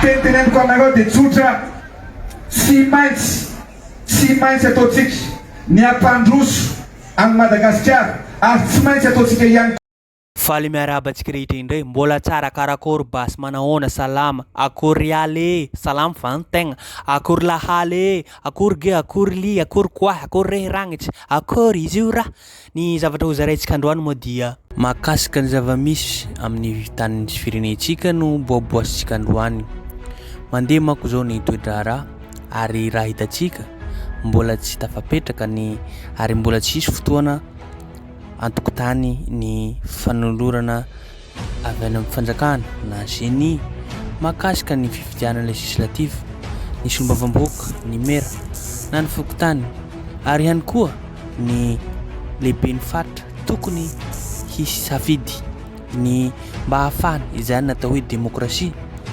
Teny teneniko aminareo dia tsotra, tsy maintsy, tsy maintsy ataontsika ny hampandroso an'i Madagasikara ary tsy maintsy ataontsika ihany koa. Faly miarahaba antsika rehetra indray, mbola tsara, karakory basy, manahoana, salama, akory ry aly ee, salama va ny tegna, akory lahaly ee, akory ge, akory lia, akory koahy, akory rehy ragnitsa, akory izy io ra, Ny zavatra hozaraintsika androany moa dia. Mahakasika ny zava-misy amin'ny tanin'ny sy firenentsika no boaboasintsika androany. Mandeha manko izao ny toe-draharaha ary raha hitantsika mbola tsy tafapetraka ny ary mbola tsy hisy fotoana antokontany ny fanolorana avy any amin'ny fanjakana na Ceni mahakasika ny fifidianana legislative, ny solombavambahoaka, ny mera na ny fokontany ary ihany koa ny lehiben'ny faritra tokony hisy safidy ny mba hahafahana izany natao hoe demokrasia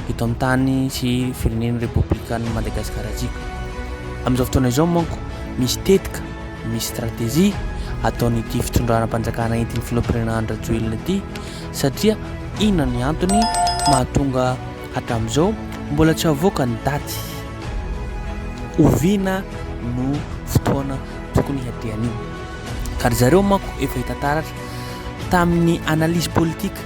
eto amin'ny tany sy firenen'ny Repoblikan'i Madagasikara antsika. Amin'izao fotoana izao manko misy tetika Misy stratejia ataon'ity fitondranam-panjakana entin'ny filoham-pirenena Andry Rajoelina ity satria inona ny antony mahatonga hatramin'izao mbola tsy avoaka ny daty? Oviana no fotoana tokony hiadehan'io? Ka ry zareo manko efa hita taratra tamin'ny analyse politique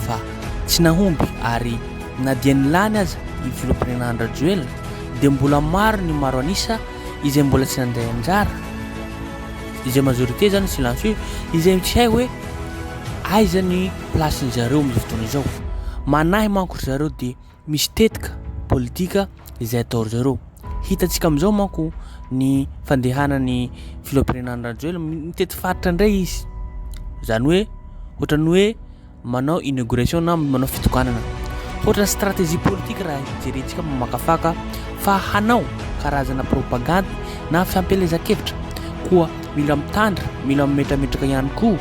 fa tsy nahomby ary na dia nilany aza ny filoham-pirenena Andry Rajoelina dia mbola maro ny maro an'isa izay mbola tsy nandray anjara izay majorité zany silencieux izay tsy hay hoe aiza ny place ny zareo amin'ny fotoana izao manahy manko ry zareo dia misy tetika politika izay atao ry zareo hitantsika amin'izao manko ny fandehanany filohampirenan'ny rajoela mitety faritra indray izy zany hoe ohatran'ny hoe manao inauguration na manao fitokanana. Hoatra stratégie politique raha hijerentsika mamakafaka fa hanao karazana propagandy na fiampelezan-kevitra koa mila mitandra, mila mimetrametraka ihany koa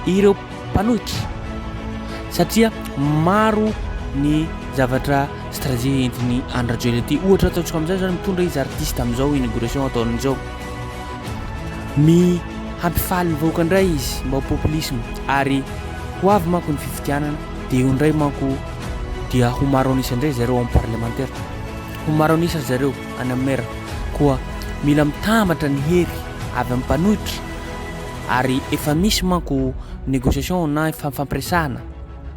ireo mpanohitra satria maro ny zavatra stratégie entin'ny Andry Rajoelina ity. Ohatra ataontsika amin'izao izany mitondra izy artiste amin'izao inauguration ataony izao. ny hampifaly ny vahoaka indray izy mba ho populisme ary ho avy manko ny fifidianana dia eo indray manko dia ho maro an'isa indray zareo amin'ny parlemantera ho maro an'isa zareo any amin'ny mera koa mila mitambatra ny hery avy amin'ny mpanohitra ary efa misy manko négociation na fampiresahana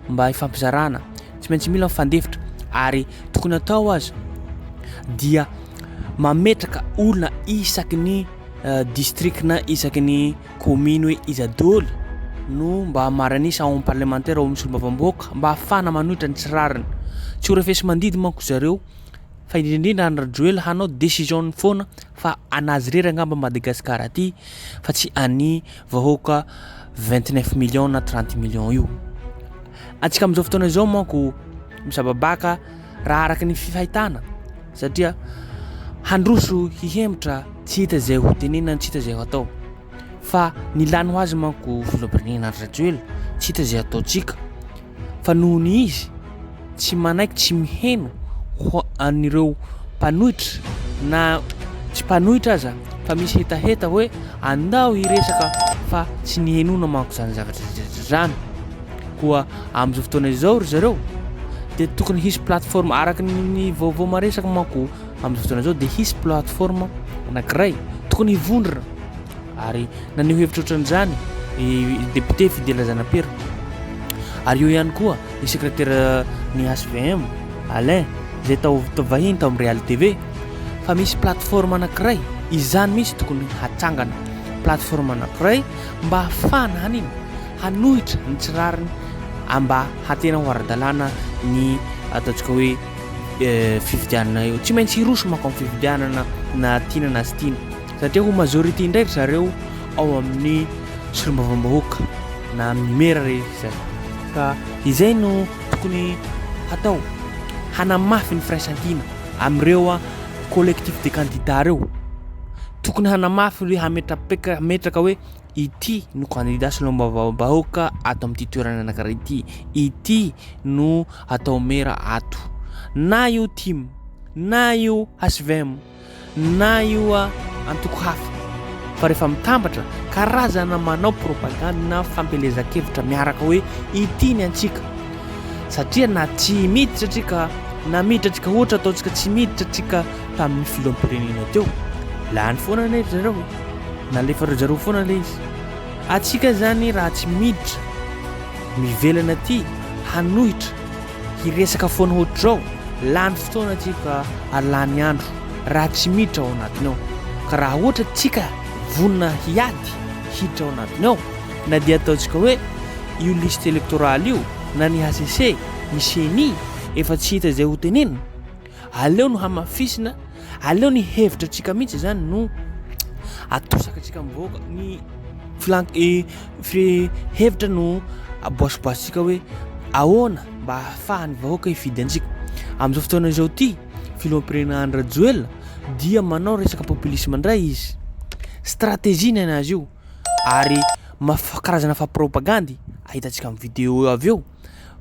mba hifampizarana tsy maintsy mila mifandefitra ary tokony atao aza dia mametraka olona isaky ny distrika na isaky ny kominy hoe iza doly no mba maranisa ao amin'ny parlemantera ao amin'ny solombavamboaka mba hafana manohitra ny tsy rariny tsy ho refesi mandidy manko zareo fa indrindrindra any rajoela hanao desision ny foana fa anazy rery angamba madagasikara aty fa tsy any vahoaka vingtneuf million na trente million io atsika am'izao fotoana izao manko misababaka raha araka ny fifahitana satria handroso hihemotra tsy hita izay ho tenena tsy hita izay ho atao fa ny lany ho azy manko filohampirenena Andry Rajoelina tsy hita izay ataontsika fa noho ny izy tsy manaiky tsy miheno ho an'ireo mpanohitra na tsy mpanohitra aza fa misy hetaheta hoe andao hiresaka fa tsy ny henona manko izany zavatra izany Koa amin'izao fotoana izao ry zareo dia tokony hisy plateforme araka ny vaovao maresaka manko amin'izao fotoana izao dia hisy plateforme anankiray tokony hivondrona ary naneho hevitra ohatran'izany ny député Fidèle Zanapera ary eo ihany koa ny secrétaire ny HVM Alain izay tao vahiny tao amin'ny Real TV fa misy plateforme anankiray izany mihitsy tokony hatsangana plateforme anankiray mba hafahana hanina hanohitra ny tsy rariny mba hatena ho ara-dalàna ny ataontsika hoe fifidianana eo. Tsy maintsy hiroso manko amin'ny fifidianana na tiana na tsy tiana satria ho majorité indray ry zareo ao amin'ny solombavambahoaka na amin'ny mera rehefa izay. Ka izay no tokony hatao, hanamafy ny firaisan-kina amin'ireo collectif des candidats ireo. Tokony hanamafy hoe hametra-paika, hametraka hoe. Ity no kandida solombavambahoaka ato amin'ity toerana anankiray ity. Ity no atao mera ato. Na io tim, na io HVM, na io ah, antoko hafa. Fa rehefa mitambatra, karazana manao propagande na fampielezan-kevitra miaraka hoe ity ny antsika. Satria na tsy miditra antsika, na miditra antsika ohatra ataontsika tsy miditra antsika tamin'ny filoham-pirenena teo. Lany foana anefa zareo. Nalefan'ry zareo foana le izy. Antsika zany raha tsy miditra mivelana aty hanohitra hiresaka foana hoatr'izao lany fotoana aty ka ary lany andro raha tsy miditra ao anatiny ao. Ka raha hoatra antsika vonona hiady hiditra ao anatiny ao na dia ataontsika hoe io liste electorale io na ny HCC, ny ceni efa tsy hita izay ho tenenina. Aleo no hamafisina, aleo ny hevitra antsika mihitsy izany no atosaka antsika mivoaka, ny filan- eh, fi- hevitra no aboasiboasitsika hoe ahoana mba hahafahan'ny vahoaka hifidy antsika. Amin'izao fotoana izao ity, filoham-pirenena Andry Rajoelina dia manao resaka populisme indray izy. Stratégie ny anazy io ary maf- karazana faha-propagandy ahitantsika amin'ny vidéo avy eo.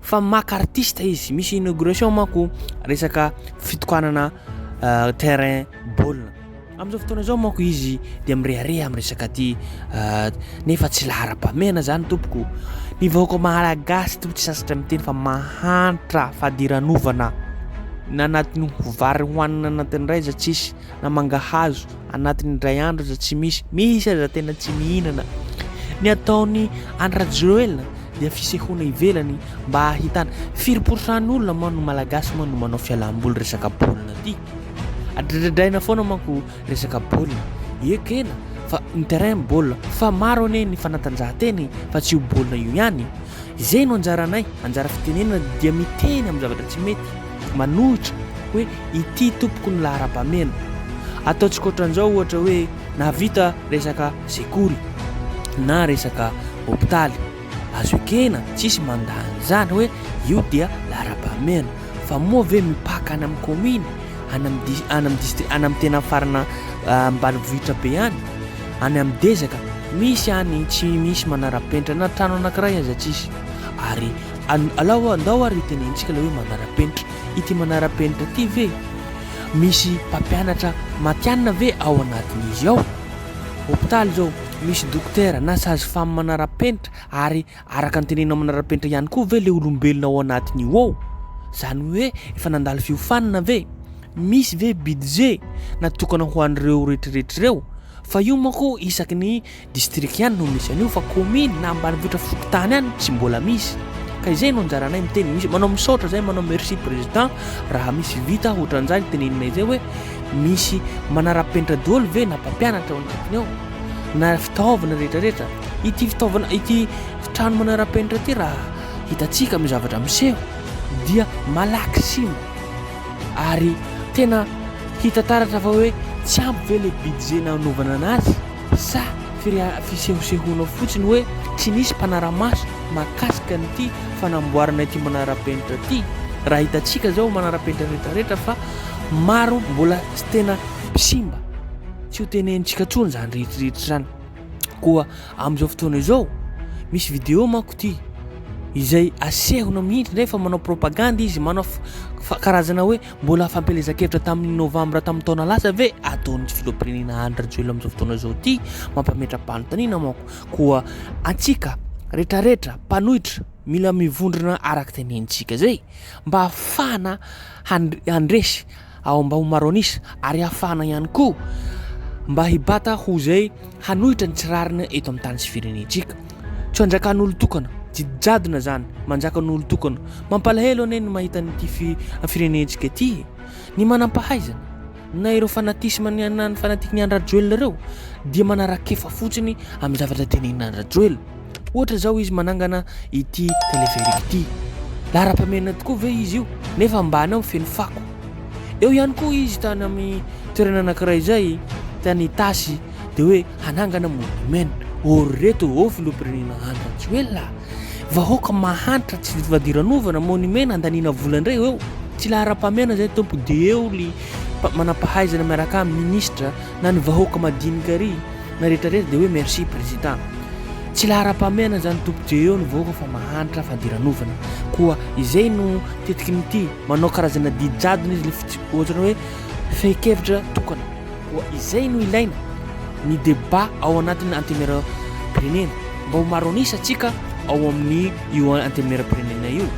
fa maka artiste izy misy inauguration manko resaka fitokanana euh, terrain baolina amin'izao fotoana izao manko izy dia mirehareha amin'ny resaka ty euh, nefa tsy laharam-pamehana zany tompoko ny vahoaka malagasy to tsy sasatra miteny fa mahantra fadiranovana na anatiny vary hohanina anatin'ny raiza tsisy na mangahazo Anatin'ny indray andro aza tsy misy. Misy aza tena tsy mihinana. Ny ataon'i Andry Rajoelina dia fisehoana ivelany mba hahitana. Firy pourcent-ny olona moa no malagasy moa no manao fialam-boly resaka baolina ty? Adradradraina foana manko resaka baolina. Ekena fa ny terrain baolina fa maro anie ny fanatanjahantena e, fa tsy io baolina io ihany. Izay no anjaranay, anjara fitenenana dia miteny amin'ny zavatra tsy mety, manohitra hoe ity tompoko ny laharam-pahamehana. Ataontsika ohatran'izao ohatra hoe nahavita resaka sekoly na resaka hopitaly, azo ekena, tsisy mandà an'izany hoe io dia laharam-pahamehana. Fa moa ve mipaka any amin'ny kaominy, any amin'ny distri, any amin'ny tena farana ambanivohitra be any? Any amin'ny dezaka, misy any tsy misy manara-penitra na trano anankiray aza tsisy. Ary alao andao ary hotenenintsika ilay hoe manara-penitra. Ity manara-penitra ity ve misy mpampianatra matihanina ve ao anatin'izy ao? Hopitaly izao, misy dokotera na sage-femme manara-penitra ary Araka ny tenenina manara-penitra ihany koa ve ilay olombelona ao anatin'io ao? Izany hoe efa nandalo fiofanana ve? Misy ve budget natokana ho an'ireo rehetrarehetra ireo? Fa io manko isaky ny distrika ihany no misy an'io fa commune na ambanivohitra fokontany any tsy mbola misy. Ka izay no anjaranay miteny misy. Manao misaotra izay, manao merci président raha misy vita ohatran'izay ny teneninay izay hoe misy manara-penitra daholo ve na mpampianatra ao anatiny ao? na fitaovana rehetra rehetra ity fitaovana ity fitrano manarapenitra ity raha hitantsika amin'ny zavatra miseho dia malaky sima ary tena hita taratra fa hoe tsy ampy ve le budget nanovana anazy sa firia fisehosehoana fotsiny hoe tsy nisy mpanaramaso makasika an'ity fanamboarana ity manarapenitra ity raha hitantsika zao manarapenitra rehetra rehetra fa maro mbola tena simba Tsy ho tenenintsika intsony izany rehetrarehetra izany. Koa amin'izao fotoana izao, misy vidéo manko ity izay asehona mihitsy indray fa manao propagande izy, manao karazana hoe mbola fampielezan-kevitra tamin'ny novambra tamin'ny taona lasa ve ataon'ny filoham-pirenena Andry Rajoelina amin'izao fotoana izao ity, mampametra-panontaniana manko. Koa antsika rehetrarehetra mpanohitra mila mivondrona araka tenenintsika izay mba hahafahana handresy ao Ambaomaronis ary hafahana ihany koa mba hibata ho izay hanohitra ny tsy rariny eto amin'ny tany sy firenentsika. Tsy anjakan'olon-tokana, tsy jadona izany, manjakan'olon-tokana. Mampalahelo anie ny mahita an'ity firenentsika ity e! Ny manam-pahaizana, na ireo fanatisme na ny fanatiky ny an-dRajoelina ireo dia manarakefa fotsiny amin'ny zavatra tenenin'an-dRajoelina. Ohatra izao izy manangana ity telepherique ity. Laharam-pahamehana tokoa ve izy io nefa ambany ao feno fako. Eo ihany koa izy tany amin'ny toerana anankiray izay tany Itasy dia hoe hanangana monument. Ô ry reto ô filoham-pirenena Andry Rajoelina a! Vahoaka mahantra tsy vita fadiranovana, monument nandaniana vola indray eo. Tsy laharam-pahamehana izay tompoko dia eo ry manampahaizana miaraka aminy, ministra, na ny vahoaka madinika ry na retraretra de hoe merci president tsy laharam-pahamehana izany tompoko dia eo ny vahoaka fa mahantra fadiranovana koa izay no tetiky ny ty manao karazana didy jadona izy le fitsy ohatra hoe fehin-kevitra tokana koa izay no ilaina ny deba ao anatin'ny antenera pirenena mba ho maro anisa atsika ao amin'ny io antenera pirenena io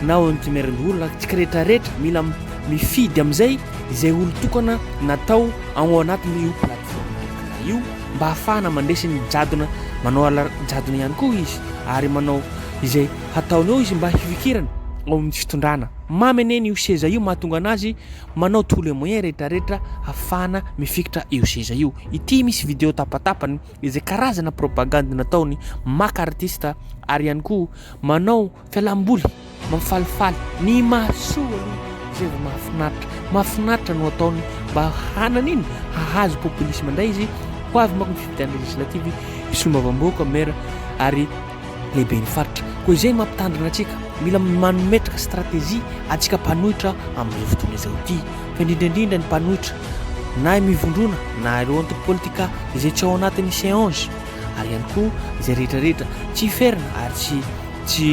na ao antenera ny olona tsika retraretra mila mifidy amin'izay izay olon-tokana natao ao anatin'io plateforme Anchor io mba ahafahana mandresy ny jadona, manao ala-jadona ihany koa izy ary manao izay hataony eo izy mba hifikirany ao amin'ny fitondrana. Mamy anie io seza io mahatonga an'azy manao tous les moyens rehetrarehetra ahafahana mifikitra io seza io. Ity misy video tapatapany izay karazana propagandy nataony maka artista ary ihany koa manao Fialamboly mampifalifaly ny mahasoa aloha izay vao mahafinaritra. Mahafinaritra no ataony mba hanana iny hahazo populisme indray izy ho avy manko ny fifidianana législative i solombavambahoaka maire ary lehiben'ny faritra. Koa izay no mampitandrina antsika, mila manometraka stratégie antsika mpanohitra amin'izao fotoana izao ity fa indrindra indrindra ny mpanohitra na mivondrona na ireo antoko politika izay tsy ao anatin'ny CNJ. ary ihany koa izay rehetra rehetra tsy hiferina ary tsy tsy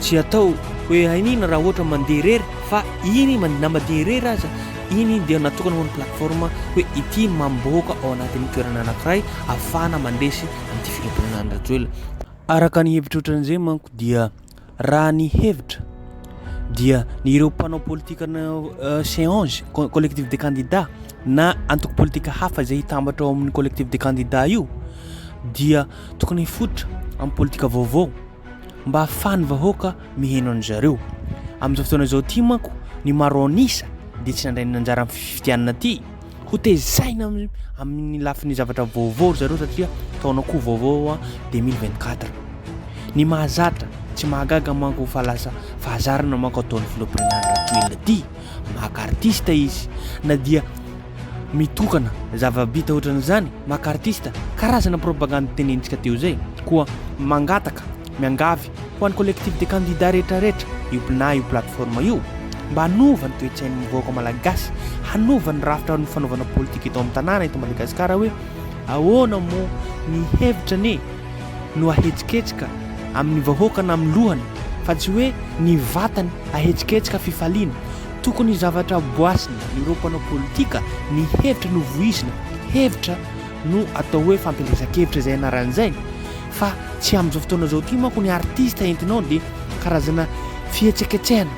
tsy atao hoe hainina raha ohatra mandeha irery fa iny na mandeha irery aza iny dia natokana ho an'ny plateforme hoe ity mamboaka ao anatin'ny toerana anankiray afahana mandresy an'ity filohampirenena Andry Rajoelina araka ny hevitra ohatran'izay manko dia Raha ny hevitra dia ny ireo mpanao politika change collectif de candidats na antoko politika hafa izay hitambatra ao amin'ny collectif de candidats io dia tokony hifotra amin'ny politika vaovao mba hahafahan'ny vahoaka miheno an'i zareo. Amin'izao fotoana izao ity manko ny maro an'isa dia tsy nandray ny anjara amin'ny fifidianana ity. Ho tezaina amin'ny lafiny zavatra vaovao ry zareo satria taona koa vaovao a, 2024. Ny mahazatra, tsy mahagaga manko fa lasa fahazarana manko ataon'ny filoham-pirenana Rajoelina ity. Maka artista izy na dia mitokana zava-bita ohatran'izany, maka artista, karazana propagandy tenenitsika teo izay, koa mangataka, miangavy. Ho an'ny Collectif des candidats rehetrarehetra, io pna io plateforme io, mba hanova ny toe-tsain'ny vahoaka malagasy, hanova ny rafitra ny fanaovana politika eto amin'ny tanàna eto Madagasikara hoe ahoana moa ny hevitra anie no ahetsiketsika amin'ny vahoaka na amin'ny lohany fa tsy hoe ny vatany ahetsiketsika fifaliana. Tokony zavatra boasina ireo mpanao politika, ny hevitra no voizina, hevitra no atao hoe fampielezan-kevitra izay anarany izay. Fa tsy amin'izao fotoana izao ity manko ny artista entinao dia karazana fihetseketsehana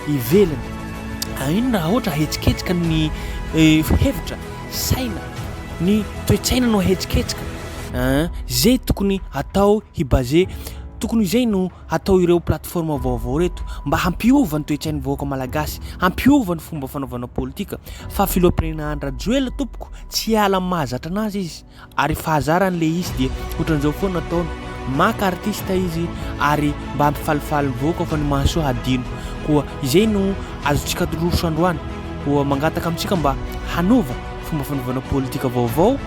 ivelany. Haino raha ohatra ahetsiketsika ny hevitra, saina, ny toe-tsaina no ahetsiketsika an! Izay tokony atao hi baser, tokony izay no atao ireo plateforme vaovao ireto mba hampiova ny toe-tsain'ny vahoaka malagasy, hampiova ny fomba fanaovana politika fa filoham-pirenena Andry Rajoelina tompoko tsy hiala amin'ny mahazatra anazy izy. ary fahazarany ilay izy dia ohatran'izao foana ataony maka artista izy ary mba hampifalifaly ny vahoaka fa ny mahasoa hadino koa izay no azontsika atoroso androany koa mangataka amintsika mba hanova fomba fanovana politika vaovao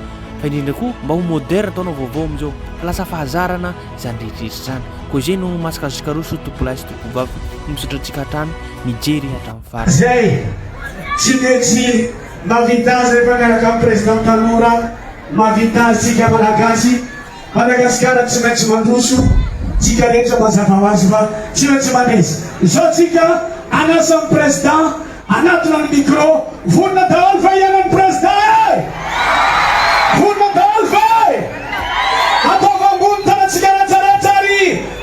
fa indrindra koa mba ho moderne taona vaovao amin'izao lasa fahazarana izany rehetrrehetra izany koa izay no masaka azontsika roso tompolahy sy tompobavy misaotra antsika hatrany mijery hatramin'ny farany izay tsy mety Mahavita azy rehefa miaraka amin'ny Président tanora, mahavita azy tsika Malagasy, Madagasikara tsy maintsy mandroso, tsika rehetra mazava ho azy fa tsy maintsy mandresy, izao tsika an'asa amin'ny Président, anatona ny micro, vonona daholo va hiharan'ny Président eh! Vonona daholo va eh! Ataovy ambony tanatsika rehetra rehetra ary.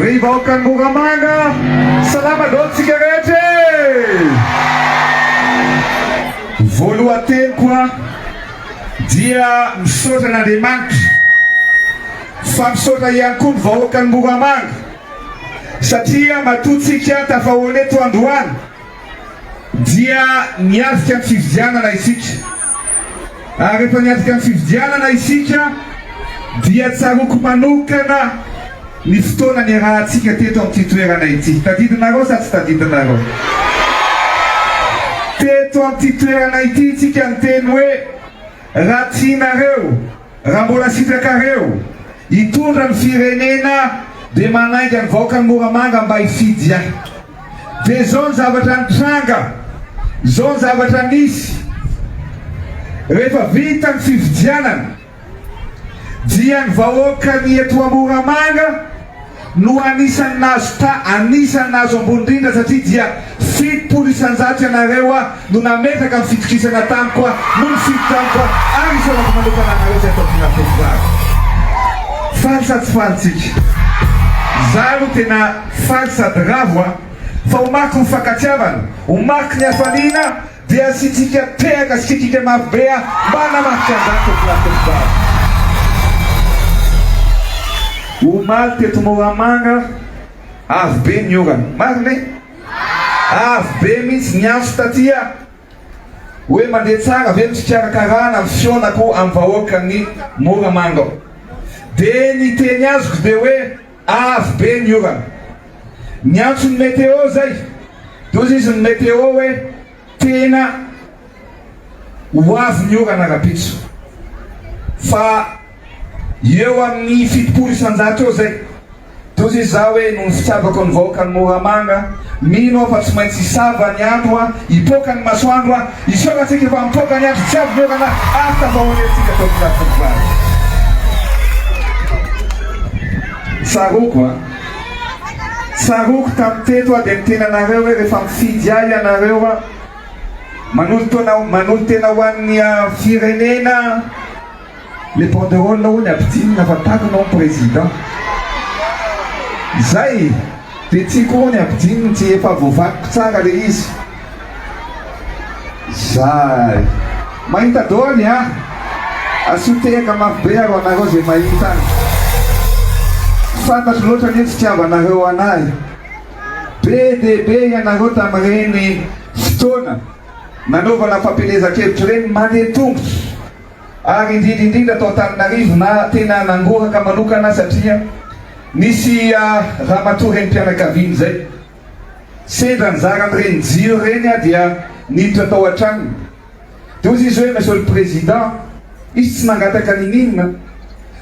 Ry vahoakan'i Moramanga, salama daholo tsika rehetra e! Voalohan-teniko aho dia misaotra an'Andriamanitra, fa misaotra ihany koa ny vahoakan'i Moramanga satria matoa tsika tafahoana eto androany. dia niatrika ny fifidianana isika ary rehefa niatrika ny fifidianana isika dia tsaroako manokana ny fotoana niarahantsika teto amin'ity toerana ity. Tadidinareo sa tsy tadidinareo? Teto amin'ity toerana ity isika niteny hoe raha tianareo, Raha mbola sitrakareo hitondra ny firenena dia manainga ny vahoakan'i Moramanga mba hifidy ahy. Dia izao ny zavatra nitranga, izao ny zavatra nisy, rehefa vita ny fifidianana dia ny vahoakan'i eto Moramanga, no anisan'ny nahazo tra anisan'ny nahazo ambony indrindra satria dia fitopolo isanjato ianareo no nametraka ny fitokisana tamiko no nifidy tamiko ary isaorako manokana anareo izay tao Tonafefy vary. Faly sa tsy faly tsika? Izaho aloha tena faly sady ravo a! Fa ho mariky ny fankatiavana, ho mariky ny hafaliana, Dia asiantsika tehaka sy kikika mafy be a! Mba hanamarika an'izany teto Lafiabogaty. Omaly teto Moramanga avo be ny orana. Marina e? Avo be mihitsy ny antso taty a! Hoe mandeha tsara ve ny fikarakarana ny fihaonako amin'ny vahoakan'i Moramanga ao? Dia ny teny azoko dia hoe. Avo be ny orana. Niantso ny météo zay de hozy izy ny météo hoe tena ho avy ny orana rapitso fa eo amin'ny fitopolo isanjato eo zay de hozy izy za hoe noho ny fitiavako ny vahoakan'i Moramanga Mino aho fa tsy maintsy hisava ny andro an, hipoaka ny masoandro an, hiseho hatsiaka fa mipoaka ny andro tsy avy ny orana ary tafahorehintsika tao am-pelatan'ny varatra. Tsaroako an, tsaroako tamin'ny teto aho dia niteny anareo hoe rehefa mifidy ahy ianareo an, manolo-tena ho an'ny firenena an, Le banderole hono ampidinina fa takona hono président Zay de tsy ko hono ampidininy tsy efa voavakiko tsara le izy Zay Mahita doly a Asio tehaka mafy be aro anareo ze mahita an Fantatro loatra anie fitiavanareo anahy Be dia be ianareo tamin'ireny fotoana nanaovana fampielezan-kevitra ireny mandeha tongotra ary indrindra indrindra tao Antananarivo na tena nangoraka manokana satria nisy ramatoa renim-pianakaviana izay sendra nizara an'ireny jiro ireny dia niditra tao an-tranony dia hozy izy hoe Monsieur le Président izy tsy nangataka n'inon'inona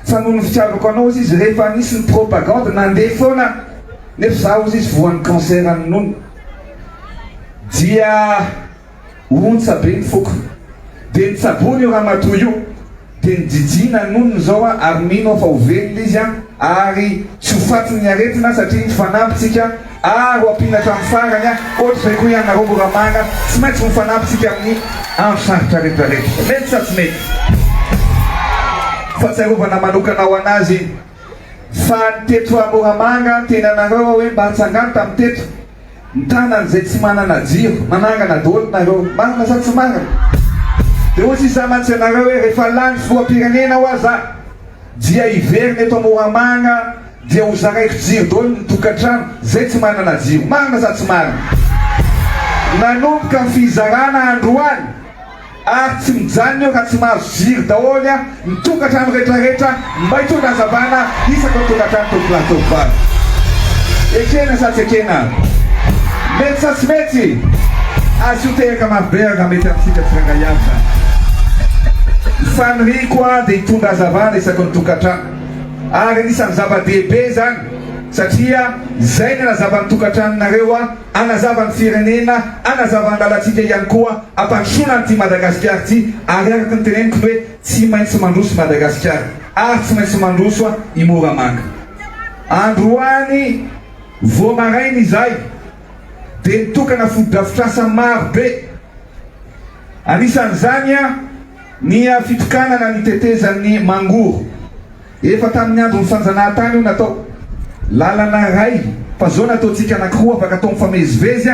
fa noho ny fitiavako anao hozy izy rehefa nisy ny propagande nandeha foana nefa izaho hozy izy voan'ny cancer an'ny nono dia Ontsa be ny foko. Dia nitsaboana io ramatoa io. Dia nijijiana ny nonony izao aho ary mino aho fa ho velona izy an! Ary tsy ho faty ny aretina satria mifanampy tsika ary ho ampiana hatramin'ny farany an! Ohatr'izay koa ianareo mora mana, tsy maintsy mifanampy tsika amin'ny andro sarotra rehetra rehetra. Mety sa tsy mety? Fahatsiarovana manokana ho an'azy iny. Fa ny teto Moramanga, ny tenanareo hoe mba atsangano tamin'ny teto. Mitana an'izay tsy manana jiro. Manangana daholo nareo. Marina sa tsy marina? Dia hoy sisa amantsy anareo hoe rehefa lany filoham-pirenena hoa za dia hiverina eto Moramanga dia ho zaraiko jiro daholo ny tokantrano zay tsy manana jiro. Marina sa tsy marina? Nanomboka ny fizarana androany ary tsy mijanona eo raha tsy mahazo jiro daholo ny tokantrano retraretra mba hitondra hazavana isaky ny tokantrano tovolahy tovovavy. Ekena sa tsy ekena? Mety sa tsy mety? Asio tehaka marobe ary raha mety amintsika tsirairay avy izany. Ny faniriako aho dia hitondra hazavana isaky ny tokantrano ary anisan'ny zava-dehibe izany satria izay no hanazava ny tokantranonareo. hanazava ny firenena, hanazava ny lalantsika ihany koa, hampandrosoana an'ity Madagasikara ity ary araka ny teneniko hoe tsy maintsy mandroso i Madagasikara ary tsy maintsy mandroso i Moramanga. Androany vao maraina izahay dia nitokana fotodrafitrasa maro be, anisan'izany ny fitokanana ny tetezan'ny Mangoro. Efa tamin'ny andron'ny fanjanahantany io natao. Lalana iray fa zao nataontsika anankiroa afaka atao mifamezivezy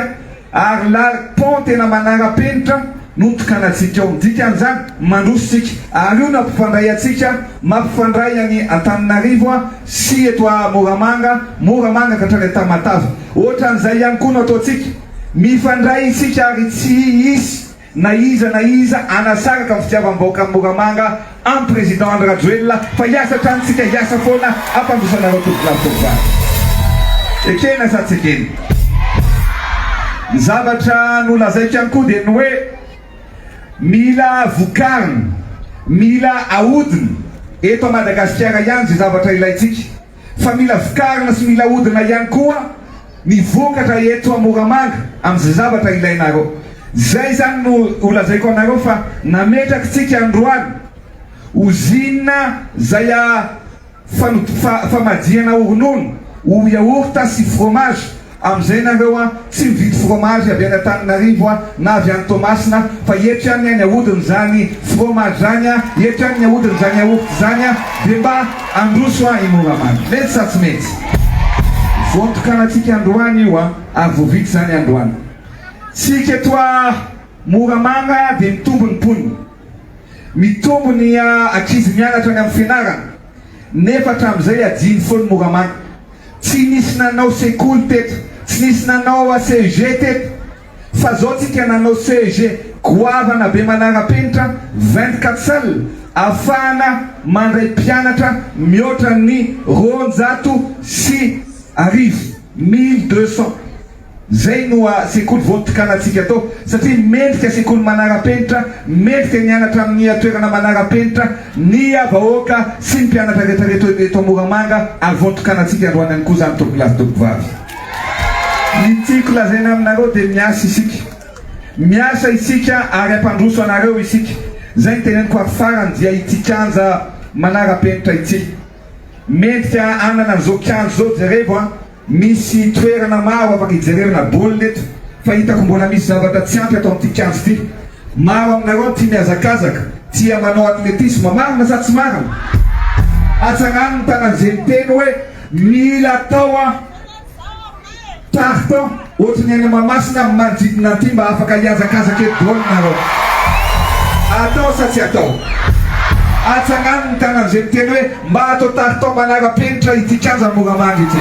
ary lal pont tena manara-penitra no tokanantsika ao. Ny dikan'izany, mandroso isika ary io no hampifandray antsika, mampifandray an'i Antananarivo sy eto Moramanga, Moramanga ka hatrany Antamatave. Ohatran'izay ihany koa no ataontsika. Mifandray isika ary tsy hisy. Na iza na iza anasaraka ny fitiavam-bahoakan'i Moramanga amin'ny Président Andry Rajoelina fa hiasa hatrany tsika hiasa foana hampandrosana anao tovolahy tovovavy. Ekena sa tsy ekena? Ny zavatra nolazaiko ihany koa dia ny hoe mila vokarina, mila ahodina eto Madagasikara ihany izay zavatra ilaintsika. fa mila vokarina sy mila ahodina ihany koa ny vokatra eto Moramanga amin'izay zavatra ilainareo. Izay izany no holazaiko anareo fa nametrakitsika androany ozinina izay fanodifana, famadihana ronono, yaourt sy fromage Amin'izay nareo a, tsy mividy fromage avy any Antananarivo a, na avy any Toamasina, fa eto ihany any ahodiny zany fromage zany a, eto ihany ny ahodiny zany yaourt zany a, de mba androso a i Moramamy. Mety sa tsy mety? Voantokanantsika androany io a, ary vao vita zany androany. Tsika eto a Moramamy a de mitombo ny mponina, mitombo ny a ankizy mianatra any amin'ny fianarana, nefa hatramin'izay ajiany foana Moramamy. Tsy nisy nanao sekoly teto, tsy nisy nanao HEG teto, fa zao tsika nanao CEG goavana be manara-penitra vingt-quatre salles afahana mandray mpianatra mihoatra ny roanjato sy arivo, mille deux cents. Izay no ha sekoly vao nitokanatsika atao satria mendrika sekoly manara-penitra, mendrika ny hianatra amin'ny toerana manara-penitra ny vahoaka sy ny mpianatra rehetra rehetra eto Moramanga ary vao nitokanatsika androany ihany koa izany tompolahy sy tompovavy. Ny tiako lazaina aminareo dia miasa isika, miasa isika ary hampandroso anareo isika, izay no teneniko ary farany dia ity kianja manara-penitra ity. Mendrika hanana an'izao kianja izao, jerevo an! Misy toerana maro afaka hijerena baolina eto fa hitako mbola misy zavatra tsy ampy ato amin'ity kianja ity. Maro aminareo tia mihazakazaka, tia manao atletisma. Marina sa tsy marina? Hatsarano ny taran'izay niteny hoe mila atao an! Tartan. Ohatry ny any Mahamasina amin'ny manodidina an'ity mba afaka hiazakazaka eto daholo nareo. Atao sa tsy atao? Atsangano ny tanan'izay miteny hoe mba atao taritao manara-penitra ity kianja Moramanga ity.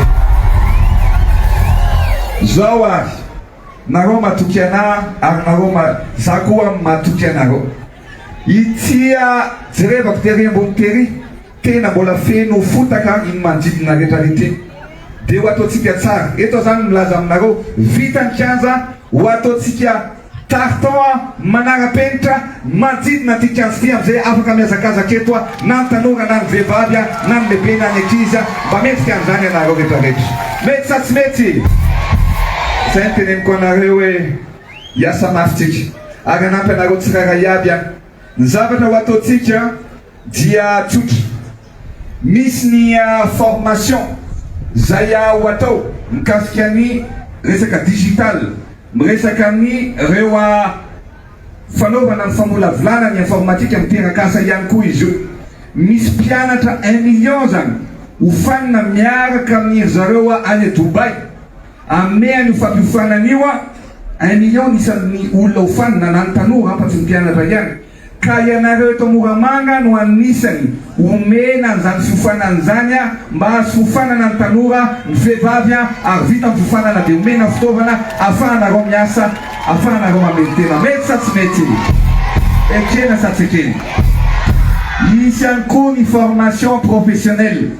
Zao ary, nareo matoky anahy ary nareo ma, za koa matoky anareo. Ity a, jerevako tery ambony tery. Tena mbola feno fotaka iny manodidina rehetra rehetra iny. Dia ho ataontsika tsara. Eto aho izany milaza aminareo, vita ny kianja, ho ataontsika tartan manara-penitra ny manodidina an'ity kianja ity amin'izay afaka mihazakazaka eto na ny tanora na ny vehivavy na ny lehibe na ny ankizy. Mba mendrika an'izany ianareo rehetra rehetra? Mety sa tsy mety? Izay no teneniko anareo hoe hiasa mafy tsika ary hanampy anareo tsirairay iaby aho. Ny zavatra ho ataontsika. Dia tsotra. Misy ny formation izay ho atao mikasika ny resaka digital, miresaka amin' ireo fanaovana ny famolavolana ny informatika miteraka asa ihany koa izy io. Misy mpianatra un million izany hofanina miaraka amin' ry zareo any Dubai. Hanome an' io fampiofanana io un million ny isan' ny olona hofanina na ny tanora afa-tsy ny mpianatra ihany. Ka ianareo eto Moramanga no anisany omena an'izany fiofanana izany mba azo fiofanana ny tanora, ny vehivavy ary vita ny fiofanana dia omena fitaovana afahanareo miasa, afahanareo mamely tena. Mety sa tsy mety io? Ekena sa tsy ekena? Hisy ihany koa ny formation professionnelle.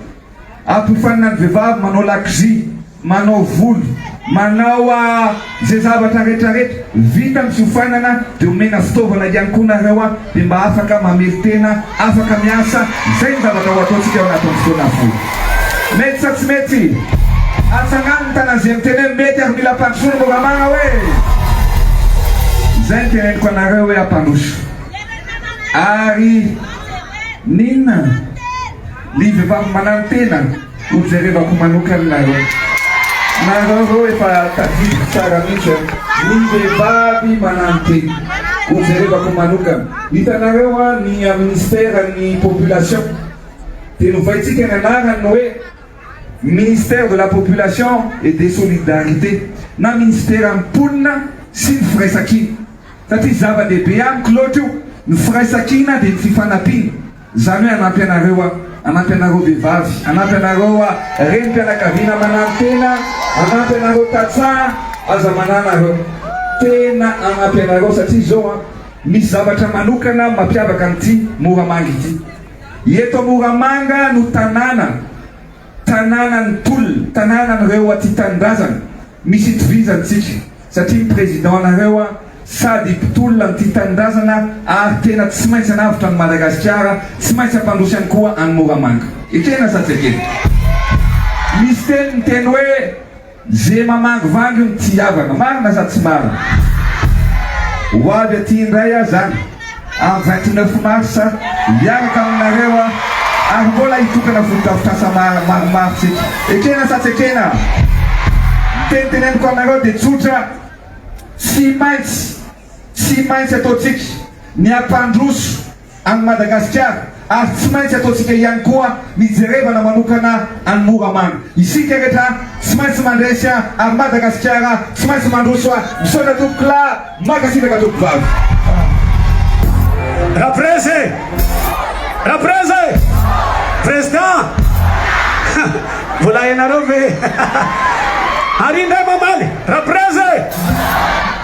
Ampofanina ny vehivavy manao lakozia, manao volo, manao izay zavatra rehetra rehetra vita ny fiofanana dia omena fitaovana ihany koa nareo dia mba afaka mamelotena, afaka miasa, izay ny zavatra ho ataontsika ao anatin'ny fotoana fohy. Mety sa tsy mety? Atsangano ny tanana izay miteny hoe mety ary mila ampandrosoana Moramara hoe. Izay ny teneniko anareo hoe ampandroso ary n'inona? Ry vehivavy manantena, ho jerevako manokana nareo. Nareo reo efa tadidiko tsara mihitsy an. Ry vehivavy manantena, ho jerevako manokana. Hitanareo an, ny Ministère ny Population dia novaintsika ny anarany hoe Ministère de la Population et des Solidarités na Minisitera ny Mponina sy ny Firaisankina satria zava-dehibe amiko loatra io, ny firaisankina dia ny fifanampiana. Izany hoe hanampy anareo aho, hanampy anareo vehivavy, hanampy anareo renim-pianakaviana mananotena, hanampy anareo tantsaha aza mananareo. Tena hanampy anareo satria izao an, misy zavatra manokana mampiavaka an'ity Moramanga ity. Eto Moramanga no tanàna, tanànan'ny tolona, tanànan'ireo aty tanindrazana, Misy itovizantsika satria ny président nareo a sady mpitolona ny tia tanindrazana ary tena tsy maintsy anavotra an'i Madagasikara, tsy maintsy ampandroso ihany koa any Moramanga. Ekena sa tsy ekena? Misy teny miteny hoe ze mamangivangy no tsy hihavana, marina sa tsy marina? Ho avy aty indray aho zany. Amin'ny vingt neuf mars hiaraka aminareo aho ary mbola hitokana fotodrafitrasa maromaro tsika. Ekena sa tsy ekena? Ny teny teneniko aminareo dia tsotra, tsy maintsy, tsy maintsy ataontsika ny hampandroso an'i Madagasikara. Ary tsy maintsy ataontsika ihany koa ny jerevana manokana an'i Moramanga. Isika rehetra tsy maintsy mandresy ary Madagasikara tsy maintsy mandroso. Misaotra tompoko lahy. Mankasitraka tompovavy. Raprez e! Raprez e! Président! Mbola ianareo ve? Ary indray mamaly, Raprez e!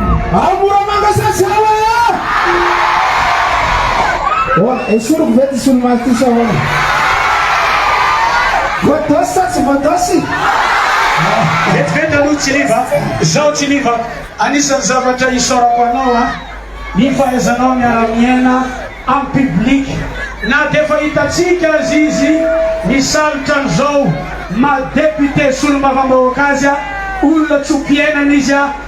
Ao Moramanga sa tsy ao e! Ahoana, esoriko ve ty solomaso ty sa ahoana? Voadosy sa tsy voadosy? Vetivety aloha Tsiliva, izao Tsiliva, anisan'ny zavatra isaorako anao an, ny fahaizanao miara-miaina amin'ny public, na dia efa hitantsika aza izy misalotra an'izao maha député solombavambahoaka azy, olona tsy ho mpiainana izy.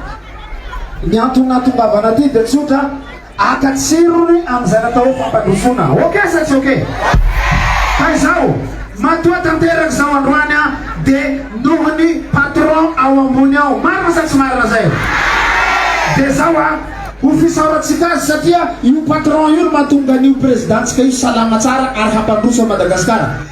Ny antony nahatongavana aty dia tsotra, haka tsirony amin'izay natao hoe fampandrosoana. Ok sa tsy ok? Ka izao, matoa tanteraka izao androany an, dia noho ny patron ao ambony ao. Marina sa tsy marina izay? Dia izao an, ho fisaorantsika azy satria io patron io no mahatonga an'io prezidantsika io salama tsara ary hampandroso an'i Madagasikara.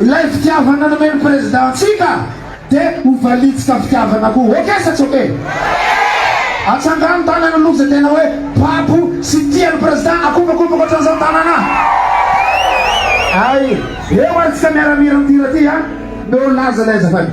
Ilay fitiavana nomeny président antsika de ho valitsika fitiavana koa ok sa tsy ok? Atsangano tanana aloha zay tena hoe babo sy tia ny président akombakobaka otran'izao ny tanana ay! Eo ary tsika miara mihira amty hira ty a! Meo laza lay azafady.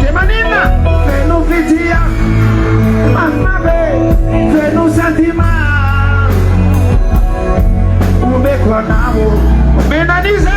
Dia maninona? Feno fitia marina ve? Feno sentiment omeko anao? Omena an'iza?